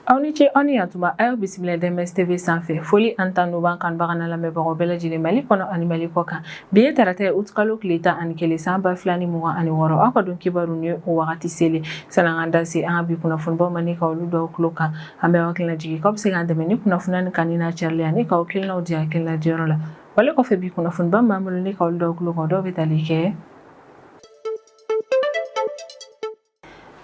aw ni ce aw ni yantuma a y'aw bisimila DMS tv sanfɛ foli ani tanu b'an kanubaga n'an lamɛnbagaw bɛɛ lajɛlen mali kɔnɔ ani mali kɔ kan bi ye tarata ye utukalo tile tan ani kelen san ba fila ni mugan ani wɔɔrɔ aw ka don kibaru ni o wagati selen sann'an k'an da se an ka bi kunnafonibaw ma ni ka olu d'aw tulo kan an bɛ aw hakili lajigin k'aw bɛ se k'an dɛmɛ ni kunnafoniya nin kanuni n'a carili ani k'aw hakilinaw di hakilina diyɔrɔ la wale kɔfɛ bi kunnafoniba min b'an bolo ni ka olu d'aw tulo kan dɔw bɛ tali kɛ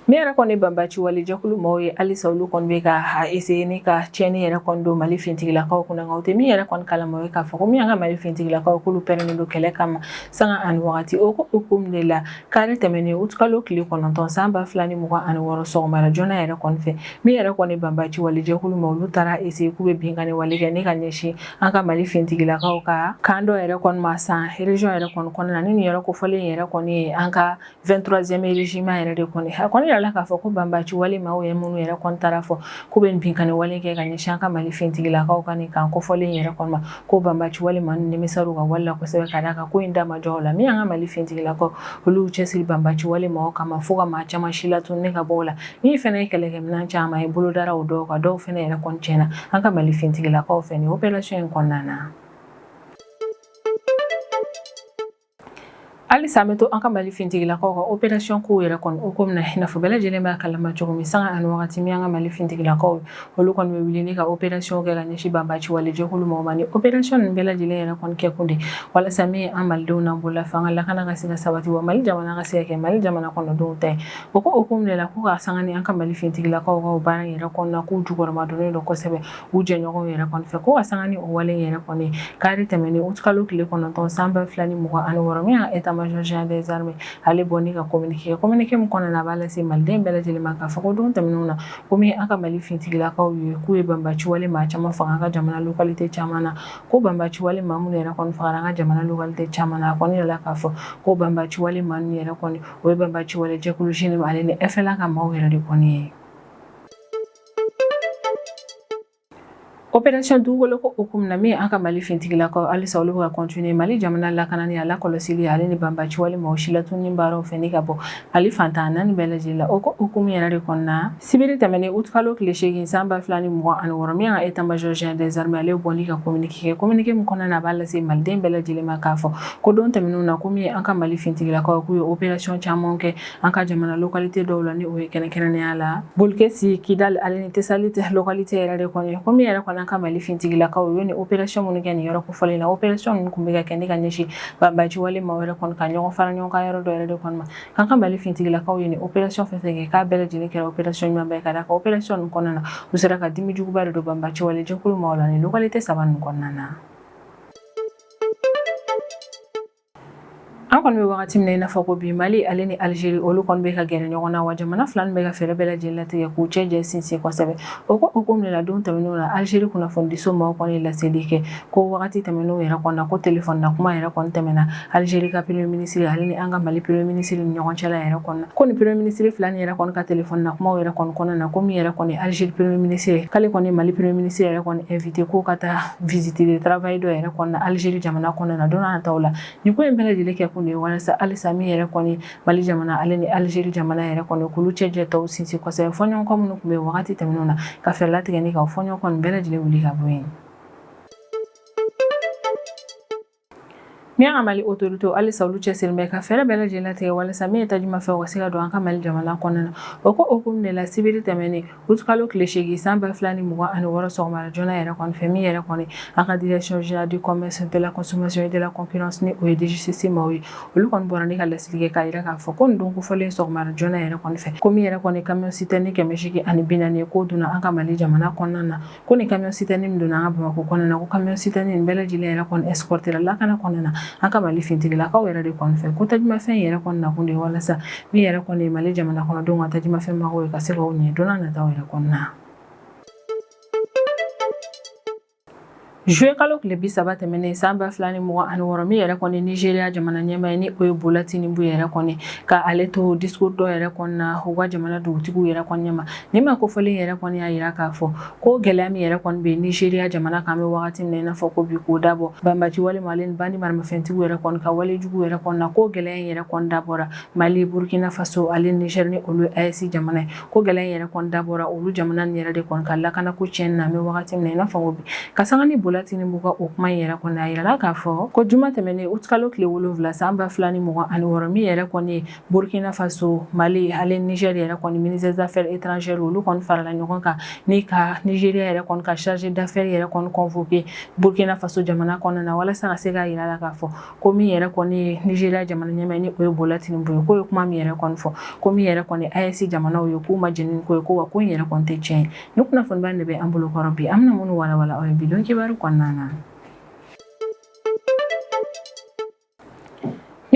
min yɛrɛ kɔni banbaci wale jɛkulu mɔgɔw ye halisa olu kɔni bɛ ka essayer ni ka tiɲɛni yɛrɛ kɔni don mali fintigilakaw kunna nka u tɛ min yɛrɛ kɔni kalama o ye k'a fɔ ko min y'an ka mali fintigilakaw k'olu pɛrɛnnen don kɛlɛ kama sanga ani wagati o ko hukumu de la kari tɛmɛnen utukalo tile kɔnɔntɔn san ba fila ni mugan ani wɔɔrɔ sɔgɔmada joona yɛrɛ kɔni fɛ min yɛrɛ kɔni banbaci wale jɛkulu maa olu taara essayer k'u bɛ binkanni wale kɛ ni ka ɲɛsin an ka mali fintigilakaw ka camp dɔ yɛrɛ kɔni ma San région yɛrɛ kɔni kɔnɔna ni nin yɔrɔ kofɔlen yɛrɛ kɔni ye an ka 23e régiment yɛrɛ de kɔni a kɔni yirala k'a fɔ ko banbaci wale maaw ye minnu yɛrɛ kɔni taara fɔ k'u bɛ binkani wale kɛ ka ɲɛsin an ka mali fintigilakaw ka nin camp kofɔlen yɛrɛ kɔni ma ko banbaci wale maa ninnu nimisara u ka wale la kosɛbɛ ka d'a kan ko in da ma jɔ o la min y'an ka mali fintigilakaw olu cɛsiri banbaci wale maaw kama fo ka maa caman silatunun ni ka bɔ o la Min fana ye kɛlɛkɛminɛn caman ye bolo dara o dɔw kan dɔw fana yɛrɛ kɔni tiɲɛna an ka Mali finitigilakaw fɛ nin opération in kɔnɔna na. halisa an bɛ to an ka mali fintigilakaw ka operation kow yɛrɛ kɔni hukumu na i n'a fɔ bɛɛ lajɛlen b'a kalama cogo min sanga ani wagati min an ka mali fintigilakaw olu kɔni bɛ wuli ni ka operation kɛ ka ɲɛsin banbaci wale jɛkulu mɔgɔw ma ni operation ninnu bɛɛ lajɛlen yɛrɛ kɔni kɛkun de walasa min ye an malidenw n'an bololafɛnw ka lakana ka se ka sabati wa mali jamana ka se ka kɛ mali jamana kɔnɔdenw ta ye O ko hukumu de la ko ka sanga ni an ka mali fintigilakaw ka baara yɛrɛ kɔnɔna k'u jukɔrɔmadonnen don kosɛbɛ u jɛɲɔgɔnw yɛrɛ kɔni fɛ ko ka sanga ni o wale yɛrɛ kɔni kari tɛmɛnen utukalo tile kɔnɔntɔn san ba fila ni mugan ani wɔɔrɔ min ye état-major général des armées ale bɔ ni ka communiqué communiqué min kɔnɔna na a b'a lase maliden bɛɛ lajɛlen ma k'a fɔ ko don tɛmɛnenw na ko min an ka mali fintigilakaw ye k'u ye banbaci wale maa caman faga an ka jamana localité caman na ko banbaci wale maa minnu yɛrɛ fagara an ka jamana localité caman na a kɔni yirala k'a fɔ ko banbaci wale maa ninnu yɛrɛ kɔni o ye banbaci wale jɛkulu JNIM ale ni FLA ka maaw yɛrɛ de kɔni ye operation dugukoloko hukumu na min an ka mali fintigilakaw halisa olu bɛ ka continuer mali jamana lakanani a lakɔlɔsili ale ni banbaci wale maaw silatununni baaraw fɛ ni ka bɔ mali fan tan ni naani bɛɛ lajɛlen la o ko hukumu yɛrɛ de kɔnɔna Sibiri tɛmɛnen utukalo tile seegin san ba fila ni mugan ani wɔɔrɔ min ye état-major général des armées ale bɔ ni ka communiqué communiqué min kɔnɔna na a b'a lase maliden bɛɛ lajɛlen ma k'a fɔ ko don tɛmɛnenw na ko min an ka mali fintigilakaw k'u ye operation caman kɛ an ka jamana localité dɔw la ni o ye kɛrɛnkɛrɛnnenya la bulikɛsi kidali ale ni tesaliti localité yɛrɛ de kɔni ko min yɛrɛ kɔni an ka mali fintigilakaw u ye nin operation minnu kɛ nin yɔrɔ kofɔlen na operation ninnu tun bɛ ka kɛ ni ka ɲɛsin banbaci wale maaw yɛrɛ kɔni ka ɲɔgɔn fara ɲɔgɔn kan yɔrɔ dɔ yɛrɛ de kɔni An ka Mali finitigilakaw ye nin operation fɛn fɛn kɛ k'a bɛɛ lajɛlen kɛra operation ɲumanba ye ka d'a kan operation ninnu kɔnɔna na u sera ka dimi juguba de don banbaci wale jɛkulu maaw la nin localité saba ninnu kɔnɔna na. An kɔni bɛ wagati min na i n'a fɔ ko bi Mali ale ni Algérie olu kɔni bɛ ka gɛrɛ ɲɔgɔn na wa jamana fila ninnu bɛ ka fɛɛrɛ bɛɛ lajɛlen latigɛ k'u cɛ jɛ sinsin kosɛbɛ o ko hukumu de la don tɛmɛnenw na Algérie kunnafonidiso maaw kɔni ye laseli kɛ ko wagati tɛmɛnenw yɛrɛ kɔnɔna ko telefɔni na kuma yɛrɛ kɔni tɛmɛna Algérie ka premier ministre ale ni an ka Mali premier ministre ni ɲɔgɔn cɛla yɛrɛ kɔnɔna ko ni premier ministre fila ni yɛrɛ kɔni ka téléphone na kumaw yɛrɛ kɔni kɔnɔna na ko min yɛrɛ kɔni Algérie premier ministre k'ale kɔni Mali premier ministre yɛrɛ kɔni invité ko ka taa visite de travail dɔ yɛrɛ kɔnɔna Algérie jamana kɔnɔna na don n'a nataw la nin ko in bɛɛ lajɛlen kɛ kun de ye walasa halisa min yɛrɛ kɔni Mali jamana ale ni Algérie jamana yɛrɛ kɔni k'olu cɛ jɛ tɔw sinsin kosɛbɛ fɔɲɔgɔnkɔ minnu tun bɛ wagati tɛmɛnenw na ka fɛɛrɛ latigɛ ni ka fɔɲɔgɔnkɔ nin bɛɛ lajɛlen wuli ka bɔ yen Min an ka mali autorité halisa olu cɛsirilen bɛ ka fɛɛrɛ bɛɛ lajɛlen latigɛ walasa min ye tajimafɛnw ka se ka don an ka mali jamana kɔnɔna na o ko hukumu de la sibiri tɛmɛnen août kalo tile seegin san ba fila ni mugan ani wɔɔrɔ sɔgɔmada joona yɛrɛ kɔni fɛ min yɛrɛ kɔni an ka direction générale du commerce de la consommation et de la concurrence ni o ye DGCC maaw ye olu kɔni bɔra ni ka laseli kɛ k'a jira k'a fɔ ko nin don kofɔlen sɔgɔmada joona yɛrɛ kɔni fɛ ko min yɛrɛ kɔni camion citerne kɛmɛ seegin ani bi naani ye k'o donna an ka mali jamana kɔnɔna na ko ni camion citerne min donna an ka bamakɔ kɔnɔna na ko camion citerne nin bɛɛ lajɛlen yɛrɛ kɔni escortera lakana kɔnɔna na an ka mali fintigilakaw yɛrɛ de kɔni fɛ ko tajumafɛn yɛrɛ kɔni nakun de ye walasa min yɛrɛ kɔni ye mali jamana kɔnɔdenw ka tajumafɛn mago ye ka se k'o ɲɛ don n'a nataw yɛrɛ kɔnɔna na Juillet kalo tile bi saba tɛmɛnen san ba fila ni mugan ani wɔɔrɔ min yɛrɛ kɔni nizeriya jamana ɲɛmaa ye ni o ye bola tinubu yɛrɛ kɔni ka ale to discours dɔ yɛrɛ kɔnɔna u ka jamana dugutigiw yɛrɛ kɔni ɲɛma Nin maa kofɔlen yɛrɛ kɔni y'a jira k'a fɔ ko gɛlɛya min yɛrɛ kɔni bɛ nizeriya jamana kan bɛ wagati min na i n'a fɔ ko bi k'o dabɔ banbaci wale maaw ale ni bandi maramafɛntigiw yɛrɛ kɔni ka wale jugu yɛrɛ kɔni na ko gɛlɛya in yɛrɛ kɔni dabɔra mali burukina faso ale nizɛri ni olu AES jamana ye ko gɛlɛya in yɛrɛ kɔni dabɔra olu jamana ni yɛrɛ de kɔni ka lakana ko tiɲɛ na bɛ wagati min na i n'a fɔ ko bi ka san ni bola tinubu ka o kuma yɛrɛ kɔni a jirala k'a fɔ ko juma tɛmɛnen août kalo tile wolonwula san ba fila ni mugan ani wɔɔrɔ min yɛrɛ kɔni ye Burukina Faso, Mali ale Nizɛri yɛrɛ kɔni ministère des affaires étrangères olu kɔni farala ɲɔgɔn kan ni ka Nizeriya yɛrɛ kɔni ka chargé d'affaires yɛrɛ kɔni convoquer Burukina Faso jamana kɔnɔna na walasa ka se k'a jira a la k'a fɔ ko min yɛrɛ kɔni ye Nizeriya jamana ɲɛmaa ni o ye Bola Tinubu ye k'o ye kuma min yɛrɛ kɔni fɔ ko min yɛrɛ kɔni AES jamanaw ye k'u ma jɛn ni ko ye ko wa ko in yɛrɛ kɔni tɛ tiɲɛ ye ni kunnafoniba in de bɛ an bolo kɔrɔ bi an bɛna minnu walawala aw ye bidon kibaru kɔnɔna na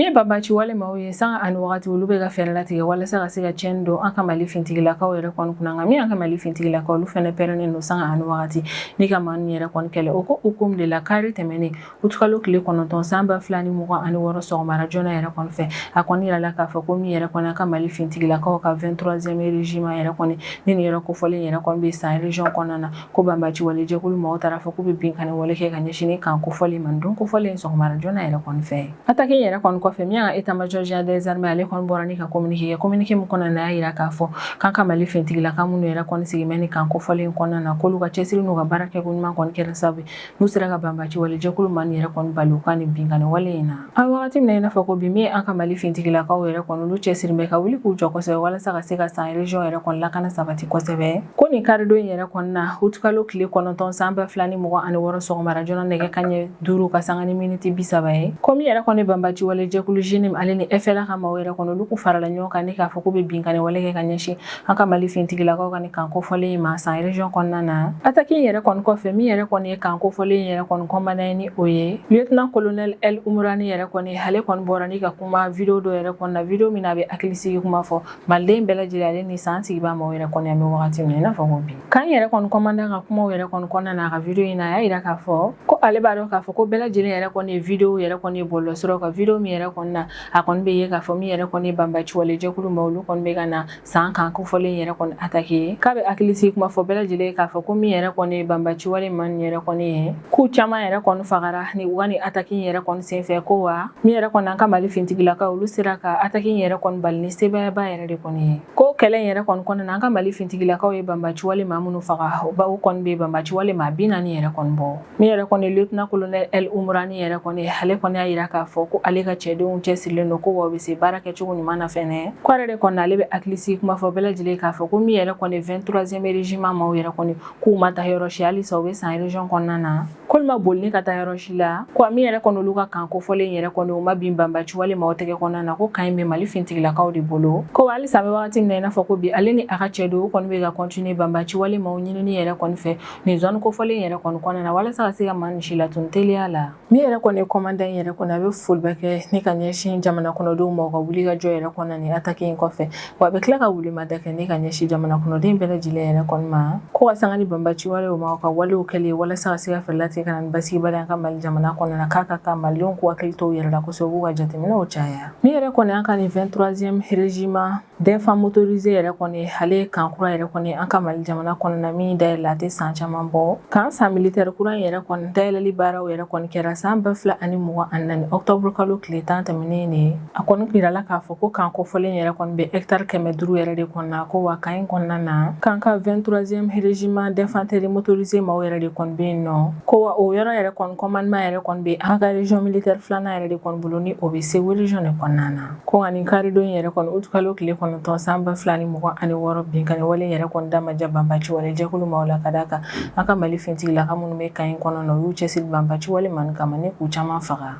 Min ye banbaci wale maaw ye sanga ani wagati olu bɛ ka fɛɛrɛ latigɛ walasa ka se ka tiɲɛni don an ka mali fintigilakaw yɛrɛ kɔni kunna nka min an ka mali fintigilakaw olu fana pɛrɛnnen don sanga ani wagati ni ka maa ninnu yɛrɛ kɔni kɛlɛ o ko hukumu de la kari tɛmɛnen utukalo tile kɔnɔntɔn san ba fila ni mugan ani wɔɔrɔ sɔgɔmara joona yɛrɛ kɔni fɛ a kɔni yirala k'a fɔ ko min yɛrɛ kɔni an ka mali fintigilakaw ka 23e régiment yɛrɛ kɔni ni nin yɔrɔ kofɔlen yɛrɛ kɔni bɛ san région kɔnɔna na ko banbaci wale jɛkulu maaw taara fɔ k'u bɛ binkanni wale kɛ ka ɲɛsin kan kofɔlen ma don kofɔlen sɔgɔmara joona yɛrɛ kɔni fɛ atake yɛrɛ kɔni kɔfɛ min y'an ka état-major général des armées ale kɔni bɔra ni ka communiqué kɛ communiqué min kɔnɔna a y'a jira k'a fɔ k'an ka mali fintigilaka minnu yɛrɛ kɔni sigilen bɛ nin kan kofɔlen kɔnɔna na k'olu ka cɛsiri n'u ka baara kɛ ko ɲuman kɔni kɛra sababu n'u sera ka banbaci wale jɛkulu maa ninnu yɛrɛ kɔni bali u ka nin binkanni wale in na a wagati min na i n'a fɔ ko bi min an ka mali fintigilakaw yɛrɛ kɔni olu cɛsiri bɛ ka wuli k'u jɔ kosɛbɛ walasa ka se ka san région yɛrɛ kɔni lakana sabati kosɛbɛ ko nin karidon in yɛrɛ kɔni na utukalo tile kɔnɔntɔn san ba fila ni mugan ani wɔɔrɔ sɔgɔmara joona nɛgɛ kanɲɛ duuru ka sanga ni miniti bi saba ye ko min yɛrɛ kɔni banbaci wale jɛkulu JNIM ale ni FLA ka maaw yɛrɛ kɔni olu kun farala ɲɔgɔn kan ni k'a fɔ k'u bɛ binkanni wale kɛ ka ɲɛsin an ka mali fintigilakaw ka nin kan kofɔlen in ma san région kɔnɔna na ataki in yɛrɛ kɔni kɔfɛ min yɛrɛ kɔni ye kan kofɔlen in yɛrɛ kɔni commandant ye ni o ye lieutenant colonel el umurani yɛrɛ kɔni ale kɔni bɔra ni ka kuma video dɔ yɛrɛ kɔnɔna video min na a bɛ hakilisigi kuma fɔ maliden bɛɛ lajɛlen ale ni san sigibaa maaw yɛrɛ kɔni an bɛ wagati min na i n'a fɔ ko bi kan yɛrɛ kɔni commandant ka kumaw yɛrɛ kɔni kɔnɔna na a ka video in na a y'a yira k'a fɔ ko ale b'a dɔn k'a fɔ ko bɛɛ lajɛlen yɛrɛ kɔni ye video yɛrɛ kɔni ye bɔlɔlɔsiraw kan video min yɛrɛ kɔnɔna a kɔni bɛ ye k'a fɔ min yɛrɛ kɔni banbaci wale jɛkulu maaw olu kɔni bɛ ka na san kan kofɔlen yɛrɛ kɔni atake k'a bɛ hakilisigi kuma fɔ bɛɛ lajɛlen ye k'a fɔ ko min yɛrɛ kɔni ye banbaci wale maa ninnu yɛrɛ kɔni ye k'u caman yɛrɛ kɔni fagara ni u ka nin atake in yɛrɛ kɔni senfɛ ko wa min yɛrɛ kɔni an ka mali fintigilakaw olu sera ka atake in yɛrɛ kɔni bali ni sebayaba yɛrɛ de kɔni ye ko kɛlɛ in yɛrɛ kɔni kɔnɔna an ka mali fintigilakaw ye banbaci wale maa minnu faga o kɔni bɛ banbaci wale maa bi naani yɛrɛ kɔni bɔ Min yɛrɛ kɔni ye lieutenant colonel El Umurani yɛrɛ kɔni ye, ale kɔni y'a yira k'a fɔ ko ale ka cɛdenw cɛsirilen don ko wa u bɛ se baara kɛcogo ɲuman na fɛnɛ. Ko ale de kɔni ale bɛ hakilisigi kuma fɔ bɛɛ lajɛlen ye k'a fɔ ko min yɛrɛ kɔni ye 23e régiment maaw yɛrɛ kɔni k'u ma taa yɔrɔ si halisa u bɛ san région kɔnɔna na. K'olu ma boli ni ka taa yɔrɔ si la. Ko wa min yɛrɛ kɔni olu ka kan kofɔlen yɛrɛ kɔni o ma bin banbaci wale maaw tɛgɛ kɔnɔna na ko kan in bɛ Mali fintigilakaw de bolo. Ko wa halisa an bɛ wagati min na i n'a fɔ ko bi ale ni a ka cɛdenw u kɔni bɛ ka continuer banbaci wale maaw ɲinini yɛrɛ kɔni fɛ Nin zone kofɔlen yɛrɛ kɔni kɔnɔna na walasa ka se ka maa ninnu silatunu teliya la, min yɛrɛ kɔni ye commandant yɛrɛ kɔni a bɛ foliba kɛ ni ka ɲɛsin jamana kɔnɔdenw ma u ka wuli ka jɔ yɛrɛ kɔnɔna na nin attaque in kɔfɛ wa a bɛ tila ka wele ma da kɛ ni ka ɲɛsin jamana kɔnɔden bɛɛ lajɛlen yɛrɛ kɔni ma ko ka sanga ni banbaci wale maaw u ka walew kɛli ye walasa ka se ka fɛɛrɛ latigɛ ka na ni basigibaliya an ka Mali jamana kɔnɔna na k'a ka kan malidenw k'u hakili to u yɛrɛ la kosɛbɛ u k'u ka jateminɛw caya min yɛrɛ kɔni an ka nin 23e régiment D'infanterie motorisée yɛrɛ kɔni ale ye kan kura yɛrɛ kɔni an ka mali jamana kɔnɔna min dayɛlɛ a tɛ san caman bɔ kan San militaire kura yɛrɛ kɔni dayɛlɛli baaraw yɛrɛ kɔni kɛra san ba fila ani mugan ani naani ɔkutɔburukalo tile tan tɛmɛnen ne a kɔni yirala k'a fɔ ko kan kofɔlen yɛrɛ kɔni bɛ hectare kɛmɛ duuru yɛrɛ de kɔnɔna ko wa kan in kɔnɔna na k'an ka vingt-troisième régiment d'infanterie motorisée maaw yɛrɛ de kɔni bɛ yen nɔ ko wa o yɔrɔ yɛrɛ kɔni commandement yɛrɛ kɔni bɛ an ka région militaire filanan yɛrɛ de kɔni bolo ni o bɛ Segu région de kɔnɔna na Ko nka nin karidon in yɛrɛ kɔni utikalo tile kɔnɔntɔn san ba fila ni mugan ani wɔɔrɔ binkanni wale in yɛrɛ kɔni da ma diya banbaci wale jɛkulu maaw la ka d'a kan an ka mali fintigilaka minnu bɛ kan in kɔnɔna u y'u cɛ siri banbaci wale maaw kama ni k'u caman faga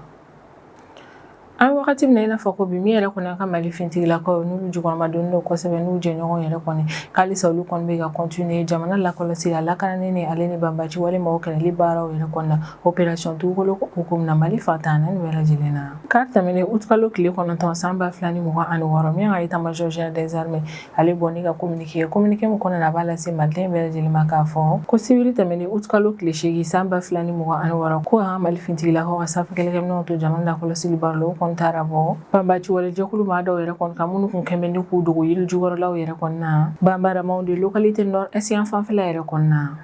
an wagati min i n'a fɔ ko bi min yɛrɛ kɔni an ka mali fintigilakaw n'u jukɔrɔmadonnen don kosɛbɛ n'u jɛɲɔgɔn yɛrɛ kɔni k'alisa olu kɔni bɛ ka continuer jamana lakɔlɔsi a lakanani ale ni banbaci wale maaw kɛlɛli baaraw yɛrɛ kɔni na opération Dugukoloko hukumu na mali fan tan ni naani bɛɛ lajɛlen na kari tɛmɛnen utikalo tile kɔnɔntɔn san ba fila ni mugan ani wɔɔrɔ min ka état-major général des armées ale bɔ n'a ka kominike ye kominike min kɔnɔna a b'a lase maliden bɛɛ lajɛlen ma k'a fɔ ko sibiri tɛmɛnen utikalo tile seegin san ba fila ni mugan ani wɔɔrɔ ko an ka mali fintigilakaw ka sanfɛ kɛlɛkɛminɛw to jamana lakɔlɔsili baaraw la o kɔni taara bɔ banbaci wale jɛkulu maa dɔw yɛrɛ kɔni kan minnu kun kɛmɛ ni k'u dogo yiri jukɔrɔlaw yɛrɛ kɔni na Bambara-Maoudé localité nord-est yan fanfɛla yɛrɛ kɔnɔna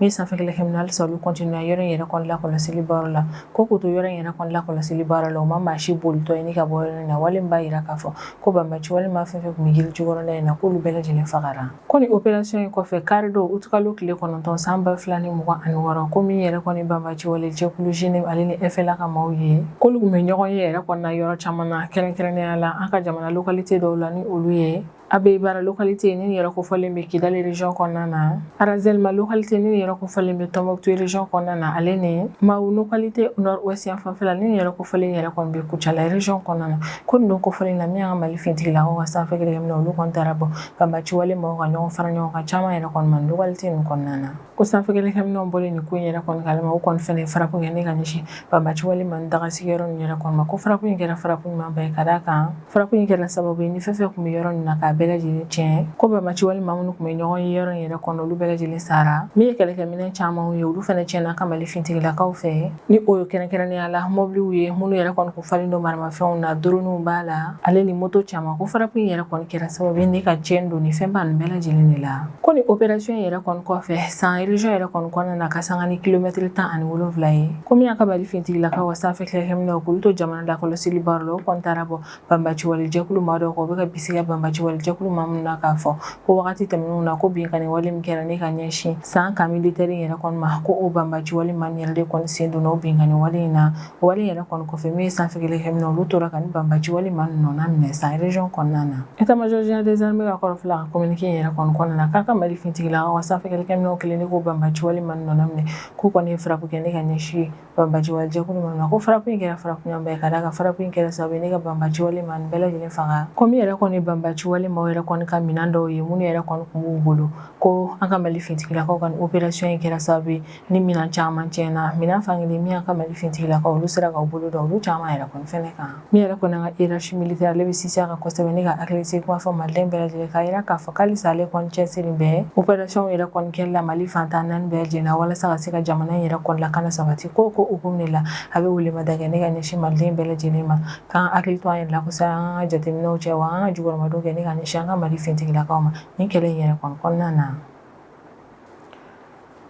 Min ye sanfɛ kɛlɛkɛminɛw halisa olu continue yɔrɔ in yɛrɛ kɔni lakɔlɔsi baara la ko k'u to yɔrɔ in yɛrɛ kɔni lakɔlɔsi baara la o ma maa si bolitɔ ye ni ka bɔ yɔrɔ in na wale min b'a jira k'a fɔ ko banbaci wale maa fɛn fɛn tun bɛ yiri jukɔrɔla in na k'olu bɛɛ lajɛlen fagara ko opération in kɔfɛ kari don utikalo tile kɔnɔntɔn san ba fila ni mugan ani wɔɔrɔ ko min yɛrɛ kɔni banbaci wale jɛkulu JNIM ale ni FLA ka maaw ye k'olu tun bɛ ɲɔgɔn ye yɛrɛ kɔni na yɔrɔ caman na kɛrɛnkɛrɛnnenya la an ka jamana localité dɔw la ni olu ye Abeïbara localité ni yɛrɛ kofɔlen bɛ Kidali région kɔnɔna na Arazelma localité ni yɛrɛ kofɔlen bɛ Tombouctou région kɔnɔna na ale ni Mahou localité nord-ouest yan fanfɛla ni yɛrɛ kofɔlen yɛrɛ kɔni bɛ Kucala région kɔnɔna na ko don kofɔlen na min y'an ka mali fintigilakaw ka sanfɛ kɛlɛkɛminɛw olu kɔni taara bɔ banbaci wale maaw ka ɲɔgɔn fara ɲɔgɔn kan caman yɛrɛ kɔni ma localité nin kɔnɔna na ko sanfɛkɛlɛkɛminɛnw bɔlen nin ko in yɛrɛ kɔni kalama o kɔni fana ye frappe kɛ ni ka ɲɛsin banbaci wale maaw dagasigiyɔrɔ nin yɛrɛ kɔni ma ko frappe in kɛra frappe ɲuman ba ye ka d'a kan frappe in kɛra sababu ye ni fɛn fɛn tun bɛ yɔrɔ nin na k'a bɛɛ lajɛlen tiɲɛ ko banbaci wale maa minnu tun bɛ ɲɔgɔn ye yɔrɔ in yɛrɛ kɔnɔ olu bɛɛ lajɛlen sara min ye kɛlɛkɛminɛn camanw ye olu fana tiɲɛna an ka mali fintigilakaw fɛ ni o ye kɛrɛnkɛrɛnnenya la mɔbiliw ye minnu yɛrɛ kɔni kun falen don maramafɛnw na droniw b'a la ale ni moto caman ko frappe in yɛrɛ kɔni kɛra sababu ye ni ka tiɲɛni don ni fɛnba nin bɛɛ lajɛlen de la ko ni opération yɛrɛ kɔni kɔfɛ san région yɛrɛ kɔni kɔnɔna na ka sanga ni kilomɛtiri tan ani wolonwula ye ko min y'an ka mali fintigilakaw ka sanfɛ kɛlɛkɛminɛw k'olu to jamana lakɔlɔsili baaraw la o kɔni taara bɔ banbaci wale jɛkulu maa dɔw kan u bɛ ka bisigiya banbaci wale jɛkulu maa minnu na k'a fɔ ko wagati tɛmɛnenw na ko binkanni wale min kɛra ne ka ɲɛsin san camp militaire yɛrɛ kɔni ma ko o banbaci wale maa nin yɛrɛ de kɔni sen donna o binkanni wale in na o wale yɛrɛ kɔni kɔfɛ min ye sanfɛ kɛlɛkɛminɛnw olu tora ka nin banbaci wale maa nin nɔna minɛ san région kɔnɔna na état-major général des armées ka kɔrɔfɔla ka communiqué in yɛrɛ kɔni kɔnɔna na k'an ka mali fintigilakaw ka sanfɛ kɛlɛkɛminɛnw kɛlen de k'o banbaci wale maa nin nɔna minɛ k'u kɔni ye frappe kɛ ne ka ɲɛsin banbaci wale jɛkulu maaw ma ko frappe in kɛra frappe ɲumanba ye ka d'a kan frappe in kɛra sababu ye ne ka banbaci wale maa nin bɛɛ lajɛlen faga ko min yɛrɛ kɔni banbaci wale maaw yɛrɛ kɔni ka minɛn dɔw ye minnu yɛrɛ kɔni tun b'u bolo ko an ka mali fintigilakaw ka opération in kɛra sababu ye ni minɛn caman cɛnna minɛn fankelen min y'an ka mali fintigilakaw olu sera k'u bolo da olu caman yɛrɛ kɔni fɛnɛ kan Min yɛrɛ kɔni an ka hiérarchie militaire ale bɛ sinsin a kan kɔsɛbɛ ne ka hakilisigi kuma fɔ maliden bɛɛ lajɛlen k'a jira k'a fɔ halisa ale kɔni cɛsiri bɛ opération yɛrɛ kɔni kɛli la mali fantan naani bɛɛ lajɛlen na walasa ka se ka jamana in yɛrɛ kɔni lakana sabati ko hukumu de la a bɛ welemada kɛ ne ka ɲɛsin maliden bɛɛ lajɛlen ma k'an hakili to an yɛrɛ la kosɛbɛ an ka jateminɛw cɛ wa an ka jukɔrɔmadon kɛ ne ka ɲɛsin an ka mali fintigilakaw ma nin kɛlɛ in yɛrɛ kɔni kɔnɔna na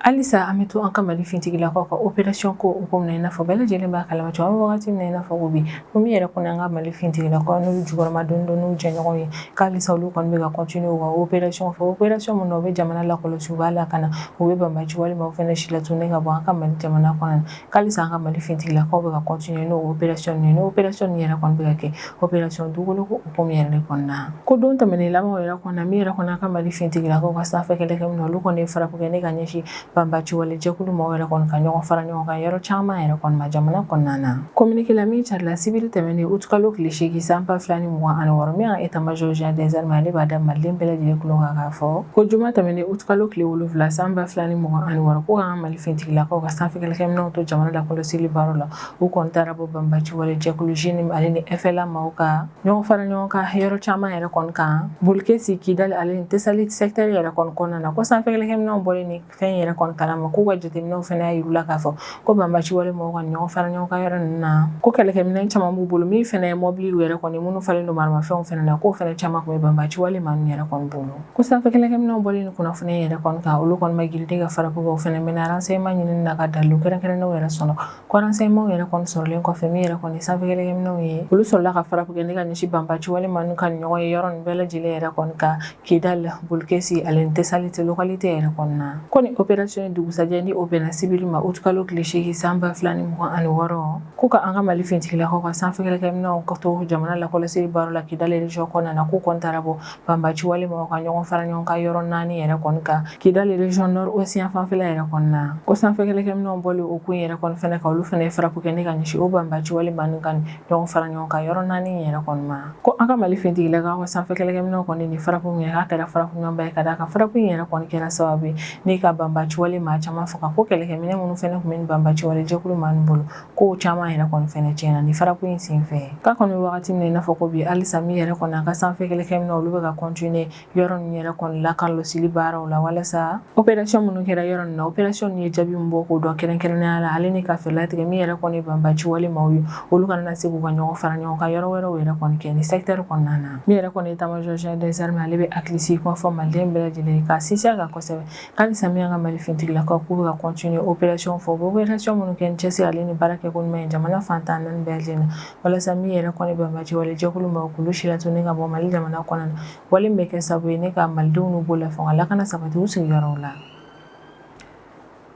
halisa an bɛ to an ka mali fintigilakaw ka operation ko hukumu na i n'a fɔ bɛɛ lajɛlen b'a kalama cogo an bɛ wagati min na i n'a fɔ ko bi ko min yɛrɛ kɔni an ka mali fintigilakaw n'olu jukɔrɔmadonnen don n'u jɛɲɔgɔn ye k'alisa olu kɔni bɛ ka continuer u ka operation fɛ operation min na u bɛ jamana lakɔlɔsi u b'a lakana u bɛ banbaci wale maaw fana si latunu ka bɔ an ka mali jamana kɔnɔ k'alisa an ka mali fintigilakaw bɛ ka kɔntiniye n'o operasiyɔn ninnu ye n'o operasiyɔn ninnu yɛrɛ kɔni bɛ ka kɛ operasiyɔn dugukoloko hukumu yɛrɛ de kɔnɔna ko don tɛmɛnen labanw yɛrɛ kɔnɔna min yɛrɛ kɔni an ka mali fintigilakaw ka sanfɛ kɛlɛkɛminɛw olu kɔni ye frappe kɛ ne ka ɲɛsin banbaciwale jɛkulu mɔgɔw yɛrɛ kɔni ka ɲɔgɔn fara ɲɔgɔn kan yɔrɔ caman yɛrɛ kɔni ma jamana kɔnɔna na kominike la min carila sibiri tɛmɛnen utukalo tile seegin san ba fila ni mugan ani wɔɔrɔ min y'an etamajɔ général des armées ale b'a da maliden bɛɛ lajɛlen kulo kan k'a fɔ ko juma tɛmɛnen utukalo tile wolonwula san ba fila ni mugan ani wɔɔrɔ ko k'an ka mali fintigilakaw ka sanfɛ kɛlɛkɛminɛw to jamana lakɔlɔsili baara la u kɔni taara bɔ banbaci wale jɛkulu JNIM ale ni FLA maaw ka ɲɔgɔn fara ɲɔgɔn kan yɔrɔ caman yɛrɛ kɔni kan bolkesi kidali ale ni tɛsali secteur yɛrɛ kɔni kɔnɔna na ko sanfɛ kɛlɛkɛminɛw bɔlen nin fɛn yɛrɛ kɔni kalama k'u ka jateminɛw fana y'a yir'u la k'a fɔ ko banbaci wale maaw ka ɲɔgɔn fara ɲɔgɔn kan yɔrɔ ninnu na ko kɛlɛkɛminɛ caman b'u bolo min fana ye mɔbiliw yɛrɛ kɔni minnu falen don maramafɛnw fana na k'o fana caman tun bɛ banbaci wale maa ninnu yɛrɛ kɔni bolo Ko sanfɛ kɛlɛkɛminɛw bɔlen nin kunnafoni in yɛrɛ kɔni kan olu kɔni ma girin ka frappe kɛ u fana mɛnna renseignements ɲinini na ka dalilu kɛrɛnkɛrɛnnenw yɛrɛ sɔrɔ ko renseignements yɛrɛ kɔni sɔrɔlen kɔfɛ min yɛrɛ kɔni ye sanfɛ kɛlɛkɛminɛw ye olu sɔrɔla ka frappe kɛ ne ka ɲɛsin banbaci wale maa ninnu ka ɲɔgɔn ye yɔrɔ nin bɛɛ lajɛlen yɛrɛ kɔni kan Kidali Bolkesi ale ni Tesalite localité yɛrɛ kɔni na ko nin opération in dugusajɛ ni o bɛnna sibiri ma août kalo tile seegin san ba fila ni mugan ani wɔɔrɔ ko ka an ka Mali fintigilakaw ka sanfɛ kɛlɛkɛminɛw ka to jamana lakɔlɔsili baaraw la Kidali région kɔnɔna na k'u kɔni taara bɔ banbaci wale mɔgɔ ka ɲɔgɔn fara ɲɔgɔn kan yɔrɔ naani yɛrɛ kɔni kan kidali région nord-ouest fanfɛla yɛrɛ kɔni na ko sanfɛ kɛlɛkɛminɛnw bɔlen o kɔ yɛrɛ kɔni fɛnɛ ka olu fɛnɛ ye frappe kɛ ni ka ɲɛsin o banbaci wale maa nin ka ɲɔgɔn fara ɲɔgɔn kan yɔrɔ naani yɛrɛ kɔni ma ko an ka mali fintigilakaw ka sanfɛ kɛlɛkɛminɛnw kɔni nin frappe in k'a kɛra frappe ɲumanba ye ka d'a kan frappe in yɛrɛ kɔni kɛra sababu ye ni ka banbaci wale maa caman faga ko kɛlɛkɛminɛ minnu fɛnɛ tun bɛ ni banbaci wale jɛkulu maa nin bolo ko caman yɛrɛ kɔni fɛnɛ tiɲɛna nin frappe in senfɛ k'an kɔni wagati min na i n'a fɔ ko bi halisa min yɛrɛ kɔni an ka sanfɛ kɛlɛkɛminɛnw olu bɛ ka continuer yɔrɔ ninnu yɛrɛ kɔni lakɔlɔsili baaraw la walasa operasiyɔn minnu kɛra yɔrɔ nin na operasiyɔn ye jaabi min bɔ k'o dɔn kɛrɛnkɛrɛnnenya la ale ni ka fɛɛrɛ latigɛ min yɛrɛ kɔni banbaciwale maaw ye olu kana na se k'u ka ɲɔgɔn fara ɲɔgɔn kan yɔrɔ wɛrɛw yɛrɛ kɔni kɛ nin secteur kɔnɔna na min yɛrɛ kɔni état-major général des armées ale bɛ hakilisigi kuma fɔ maliden bɛɛ lajɛlen ka sinsin a kan kosɛbɛ Halisa min an ka mali fintigilakaw k'u bɛ ka continuer opération fɔ u bɛ opération minnu kɛ ni cɛsiri ale ni baara kɛko ɲuman ye jamana fan tan ni naani bɛɛ lajɛlen na walasa min yɛrɛ kɔni banbaci wale jɛkulu maaw k'olu silatunun ka bɔ mali jamana kɔnɔna na wale min bɛ kɛ sababu ye ni ka malidenw n'u bolofɛnw lakana sabati u sigiyɔrɔ la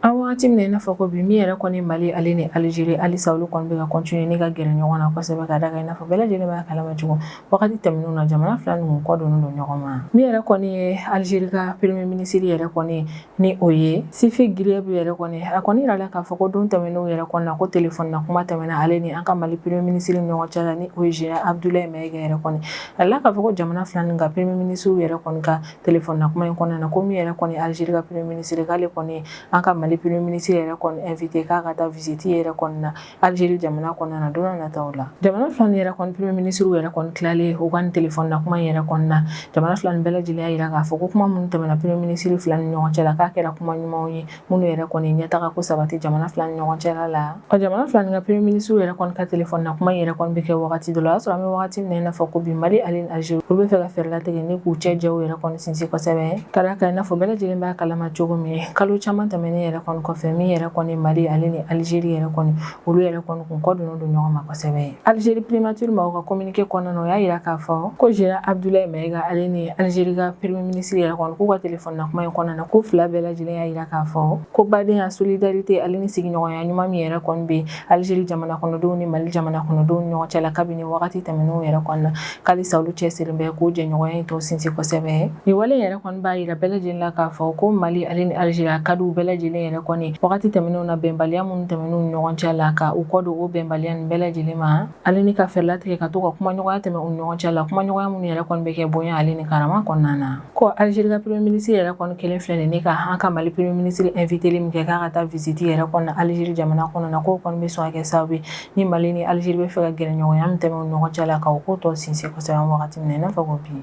an bɛ waati min na i n'a fɔ ko bi min yɛrɛ kɔni mali ale ni Algérie halisa olu kɔni bɛ ka continuer ni ka gɛrɛ ɲɔgɔn na kosɛbɛ ka d'a kan i n'a fɔ bɛɛ lajɛlen b'a kalama cogo wagati tɛmɛnenw na jamana fila ninnu kɔ donnen don ɲɔgɔn ma min yɛrɛ kɔni ye alizeri ka premier minisiri yɛrɛ kɔni ni o ye Sifi Ghrieb yɛrɛ kɔni a kɔni yirala k'a fɔ ko don tɛmɛnenw yɛrɛ kɔni na ko telefɔni na kuma tɛmɛna ale ni an ka mali premier minisiri ni ɲɔgɔn cɛ la ni o ye général abdoulaye mayiga yɛrɛ kɔni a yirala k'a fɔ ko jamana fila nin ka premier minisiriw yɛrɛ kɔni ka telefɔni na kuma in kɔnɔna na ko min yɛrɛ kɔni alizeri ka premier minisiri k'ale kɔni an ka mali premier minisiri yɛrɛ kɔni invité k'a ka taa visite yɛrɛ kɔni na Algérie jamana kɔnɔna na don nataw la jamana fila nin yɛrɛ kɔni premier ministre yɛrɛ kɔni tilalen u ka nin téléphone na kuma yɛrɛ kɔni na jamana fila nin bɛɛ lajɛlen y'a yira k'a fɔ ko kuma minnu tɛmɛna premier ministre fila ni ɲɔgɔn cɛ la k'a kɛra kuma ɲumanw ye minnu yɛrɛ kɔni ɲɛtaga ko sabati jamana fila ni ɲɔgɔn cɛla la ɔ jamana fila nin ka premier ministre yɛrɛ kɔni ka téléphone na kuma yɛrɛ kɔni bɛ kɛ wagati dɔ la o y'a sɔrɔ an bɛ wagati min na i n'a fɔ ko bi Mali ale ni Algérie olu bɛ fɛ ka fɛɛrɛ latigɛ ni k'u cɛ jɛw yɛrɛ kɔni sinsin kosɛbɛ Ka da a kan i n'a fɔ bɛɛ lajɛlen b'a kalama cogo min, kalo caman tɛmɛnen yɛrɛ kɔni kɔfɛ, min yɛrɛ kɔni Mali ale ni Algérie yɛrɛ kɔni, olu yɛrɛ kɔni kun kɔ donnen don ɲɔgɔn ma kosɛbɛ. Algérie primature mɔgɔw ka communiqué kɔnɔna na, u y'a yira k'a fɔ ko Général Abdoulaye Maiga ale ni Algérie ka Premier ministre yɛrɛ kɔni, k'u ka téléphone na kuma in kɔnɔna na, k'u fila bɛɛ lajɛlen y'a yira k'a fɔ ko badenya, solidarité ale ni sigiɲɔgɔnya ɲuman min yɛrɛ kɔni bɛ alizeri jamana kɔnɔdenw ni mali jamana kɔnɔdenw ni ɲɔgɔn cɛ la kabini wagati tɛmɛnenw yɛrɛ kɔni na ko halisa olu cɛsirilen bɛ k'o jɛɲɔgɔnya in tɔ sinsin kosɛbɛ nin wale yɛrɛ kɔni b'a yira bɛɛ lajɛlen la k'a fɔ ko mali ale ni alizeri a ka di u bɛɛ lajɛlen yɛrɛ kɔni wagati tɛmɛnenw na bɛnbaliya minnu tɛmɛna u ni ɲɔgɔn cɛ la ka u kɔ don o bɛnbaliya nin bɛɛ lajɛlen ma Ale ni ka fɛɛrɛ latigɛ ka to ka kumaɲɔgɔnya tɛmɛ u ɲɔgɔn cɛ la kumaɲɔgɔnya minnu yɛrɛ kɔni bɛ kɛ bonya ale ni karama kɔnɔna na ko alizeri ka premier ministre yɛrɛ kɔni kɛlen filɛ nin ni ka an ka mali premier ministre invitéli min kɛ k'a ka taa viziti yɛrɛ kɔni na alizeri jamana kɔnɔna na k'o kɔni bɛ sɔn ka kɛ sabu ye ni mali ni alizeri bɛ fɛ ka gɛrɛɲɔgɔnya min tɛmɛ u ɲɔgɔn cɛ la ka o ko tɔ sinsin kosɛbɛ wagati min na n'a fɔ ko bi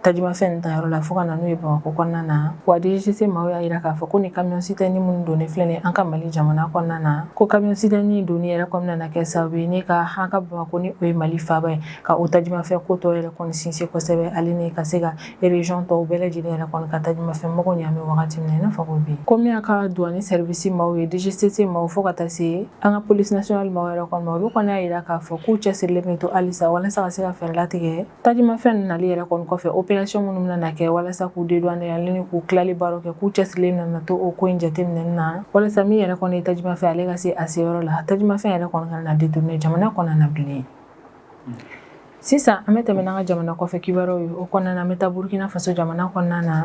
Tajimafɛn ta yɔrɔ la fo ka na n'u ye bamakɔ kɔnɔna na wa DGCC maaw y'a yira k'a fɔ ko ni camion citerne minnu donnen filɛ nin an ka mali jamana kɔnɔna na ko camion citerne donni yɛrɛ kɔni nana kɛ sabu ye ni ka an ka bamakɔ ni o ye mali faaba ye ka o tajimafɛn ko tɔ yɛrɛ kɔni sinsin kosɛbɛ ale ni ka se ka région tɔw bɛɛ lajɛlen yɛrɛ kɔni ka tajimafɛn mago ɲa bɛ wagati min na n'a fɔ bi ko min ye an ka douane service maaw ye DGCC maaw fo ka taa se an ka police nationale maaw yɛrɛ kɔni ma olu kɔni y'a yira k'a fɔ k'u cɛsirilen bɛ to halisa walasa ka se ka fɛɛrɛ latigɛ Tajimafɛn ninnu nali yɛrɛ kɔni kɔfɛ opération minnu bɛna na kɛ walasa k'u dédouaner ale ni k'u tilali baaraw kɛ k'u cɛsirilen nana to o ko in jateminɛni na walasa min yɛrɛ kɔni ye tajimafɛn ale ka se a se yɔrɔ la tajimafɛn yɛrɛ kɔni kana na détourner jamana kɔnɔna na bilen sisan an bɛ tɛmɛ n'an ka jamana kɔfɛ kibaruyaw ye o kɔnɔna na an bɛ taa Burkina Faso jamana kɔnɔna na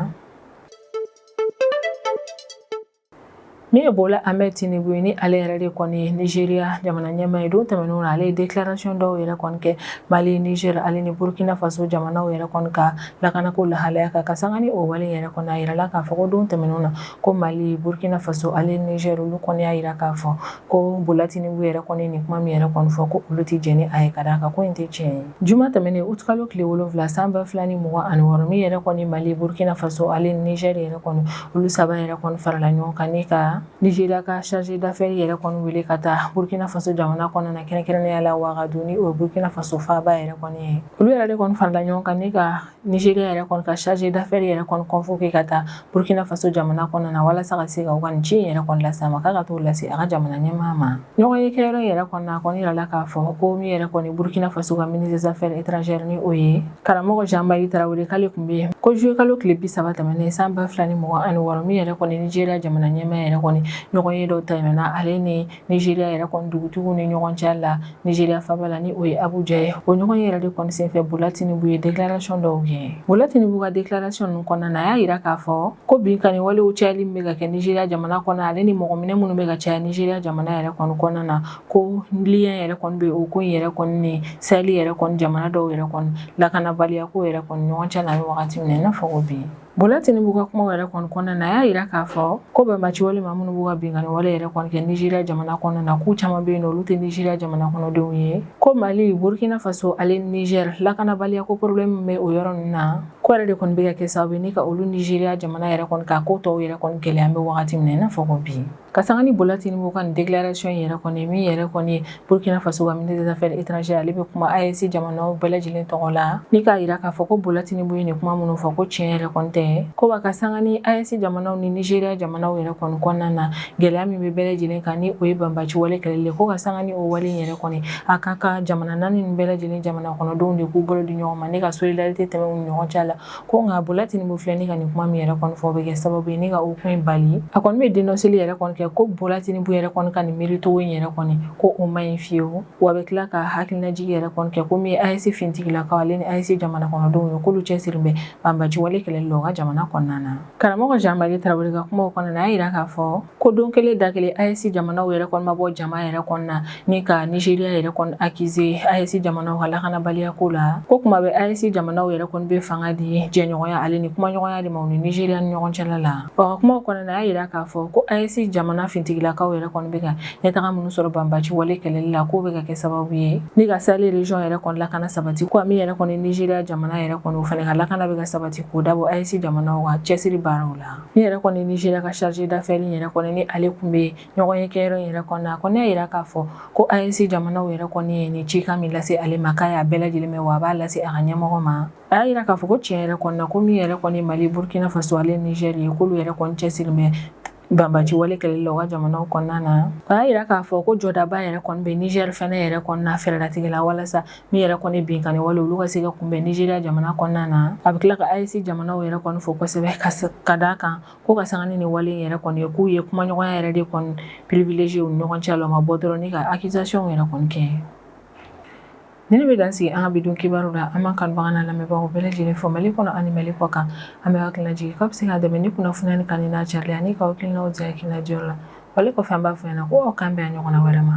Min ye Bola Ahmed Tinubu ye ni ale yɛrɛ de kɔni ye Nigeria jamana ɲɛmaa ye don tɛmɛnenw na ale ye déclaration dɔw yɛrɛ kɔni kɛ Mali, Niger ale ni Burkina Faso jamanaw yɛrɛ kɔni ka lakanako lahalaya kan ka sanga ni o wale yɛrɛ kɔni a yirala k'a fɔ ko don tɛmɛnenw na ko Mali, Burkina Faso ale Niger olu kɔni y'a yira k'a fɔ ko Bola Tinubu yɛrɛ kɔni nin kuma min yɛrɛ kɔni fɔ ko olu tɛ jɛn ni a ye ka d'a kan ko in tɛ tiɲɛ ye. Juma tɛmɛnen août kalo tile wolonwula san ba fila ni mugan ani wɔɔrɔ min yɛrɛ kɔni Mali, Burkina Faso ale Niger yɛrɛ kɔni olu saba yɛrɛ kɔni farala ɲɔgɔn kan ni ka nigeria ka chargé d'affaires yɛrɛ kɔni wele ka taa burukina faso jamana kɔnɔna na kɛrɛnkɛrɛnnenya la wagadugu ni o burukina faso faaba yɛrɛ kɔni ye olu yɛrɛ de kɔni farala ɲɔgɔn kan ni ka nigeria yɛrɛ kɔni ka chargé d'affaires yɛrɛ convoqué ka taa burukina faso jamana kɔnɔna na walasa ka se ka u ka ci yɛrɛ kɔni lase a ma k'a ka taa o lase a ka jamana ɲɛmaa ma ɲɔgɔnye kɛyɔrɔ yɛrɛ kɔnɔna a kɔni yirala k'a fɔ ko min yɛrɛ kɔni burkina faso ka ministre des affaires étrangères ni o ye karamɔgɔ jean marie tarawele k'ale tun bɛ yen ko juillet kalo tile bi saba tɛmɛnen san ba fila ni mugan ani wɔɔrɔ min yɛrɛ kɔni nigeriya jamana ɲɛmaa yɛrɛ kɔni ɲɔgɔnye dɔ tɛmɛna ale ni nigeriya yɛrɛ kɔni dugutigiw ni ɲɔgɔn cɛ la nigeriya faaba la ni o ye abuja ye o ɲɔgɔnye yɛrɛ de kɔni senfɛ bola tinubu ye déclaration dɔw kɛ bola tinubu ka déclaration ninnu kɔnɔna na a y'a yira k'a fɔ ko binkanni walew cayali min bɛ ka kɛ nizeriya jamana kɔnɔ ale ni mɔgɔ minɛ minnu bɛ ka caya nizeriya jamana yɛrɛ kɔni kɔnɔna na ko lien yɛrɛ kɔni bɛ o ko in yɛrɛ kɔni ni Sahel yɛrɛ kɔni jamana dɔw yɛrɛ kɔni lakanabaliya ko yɛrɛ kɔni ɲɔgɔn cɛ la wagati min na n'a fɔ ko bi Bola Tinubu ka kuma yɛrɛ kɔni kɔnɔna na a y'a jira k'a fɔ ko banbaanci wale maa minnu b'u ka binkanni wale yɛrɛ kɔni kɛ Nizeriya jamana kɔnɔna na k'u caman bɛ yen n'olu tɛ Nizeriya jamana kɔnɔdenw ye ko Mali Burkina Faso ale Niger lakanabaliya ko problème bɛ o yɔrɔ ninnu na Ko yɛrɛ de kɔni bɛ ka kɛ sababu ye ni ka olu Nigeria jamana yɛrɛ kɔni ka ko tɔw yɛrɛ kɔni gɛlɛya an bɛ wagati min n'a fɔ ko bi ka sanga ni Bola Tinubu ka nin déclaration yɛrɛ kɔni min yɛrɛ kɔni Burkina Faso ka ministre des affaires étrangères ale bɛ kuma AES jamana bɛɛ lajɛlen tɔgɔ la ni k'a yira k'a fɔ ko Bola Tinubu ye nin kuma minnu fɔ ko tiɲɛ yɛrɛ kɔni tɛ ko ba ka sanga ni AES jamanaw ni Nigeria jamana yɛrɛ kɔni kɔnɔna na gɛlɛya min bɛ bɛɛ lajɛlen kan ni o ye banbaci wale kɛlɛli ye ko ka sanga ni o wale in yɛrɛ kɔni a ka kan jamana naani ninnu bɛɛ lajɛlen jamana kɔnɔdenw de k'u bolo di ɲɔgɔn ma ni ka solidarité tɛmɛ u ni ɲɔgɔn cɛ la ko nka Bola Tinubu filɛ ni ka nin kuma min yɛrɛ kɔni fɔ o bɛ kɛ sababu ye ni ka o ko in bali a kɔni bɛ dénonceli yɛrɛ kɔni kɛ ko Bola Tinubu yɛrɛ kɔni ka nin miiricogo in yɛrɛ kɔni ko o man ɲi fiyewu wa a bɛ tila ka hakilinajigi yɛrɛ kɔni kɛ ko min ye AES finitigilakaw ale ni AES jamana kɔnɔdenw ye k'olu cɛsirilen bɛ banbaci wale kɛlɛli la u ka jamana kɔnɔna na Karamɔgɔ Jean Marie Traore ka kumaw kɔnɔna na, a y'a yira k'a fɔ ko don kelen da kelen AES jamanaw yɛrɛ kɔni ma bɔ jama yɛrɛ kɔnɔna na ni ka Nizeriya yɛrɛ kɔni accuser AES jamanaw ka lakanabaliya ko la. Ko kuma bɛɛ AES jamanaw yɛrɛ kɔni bɛ fanga di jɛɲɔgɔnya ale ni kumaɲɔgɔnya de ma u ni Nizeriya ni ɲɔgɔn cɛla la. O ka kumaw kɔnɔna na, a y'a yira k'a fɔ ko AES jamana fintigilakaw yɛrɛ kɔni bɛ ka ɲɛtaga minnu sɔrɔ banbaci wale kɛlɛli la k'o bɛ ka kɛ sababu ye ni ka Sahel région yɛrɛ kɔni lakana sabati ko min yɛrɛ kɔni nigeria jamana yɛrɛ kɔni o fana ka lakana bɛ ka sabati k'o dabɔ AES jamanaw ka cɛsiri baaraw la ni yɛrɛ kɔni nigeria ka chargé d'affaires yɛrɛ kɔni ni ale kun bɛ ɲɔgɔnye kɛyɔrɔ in yɛrɛ kɔnɔna a kɔni y'a yira k'a fɔ ko AES jamanaw yɛrɛ kɔni ye nin cikan min lase ale ma k'a y'a bɛɛ lajɛlen mɛn wa a b'a lase a ka ɲɛmɔgɔ ma a y'a yira k'a fɔ ko tiɲɛ yɛrɛ kɔnɔna ko min yɛrɛ kɔni mali burkina faso ale niger ye k'olu yɛrɛ kɔni cɛsiri bɛ banbaci wale kɛlɛli la u ka jamanaw kɔnɔna na a y'a yira k'a fɔ ko jɔdaba yɛrɛ kɔni bɛ nizɛri fana yɛrɛ kɔnɔna fɛɛrɛlatigɛ la walasa min yɛrɛ kɔni binkanni wale olu ka se ka kunbɛn nizeriya jamana kɔnɔna na a bɛ tila ka AES jamanaw yɛrɛ kɔni fo kosɛbɛ ka d'a kan ko ka sanga ni nin wale yɛrɛ kɔni ye k'u ye kumaɲɔgɔnya yɛrɛ de kɔni privilégier u ni ɲɔgɔn cɛ la u ma bɔ dɔrɔn ka accusation yɛrɛ kɔni kɛ Ninnu bɛ dan sigi an ka bidon kibaruw la an b'an kanubaga n'an lamɛnbagaw bɛɛ lajɛlen fo mali kɔnɔ ani mali kɔ kan an bɛ hakilinajigi k'aw bɛ se k'an dɛmɛ ni kunnafoni in kanuni n'a carili ani k'aw hakilinaw di hakilina diyɔrɔ la wale kɔfɛ an b'a fɔ yan na ko k'an bɛn a ɲɔgɔnna wɛrɛ ma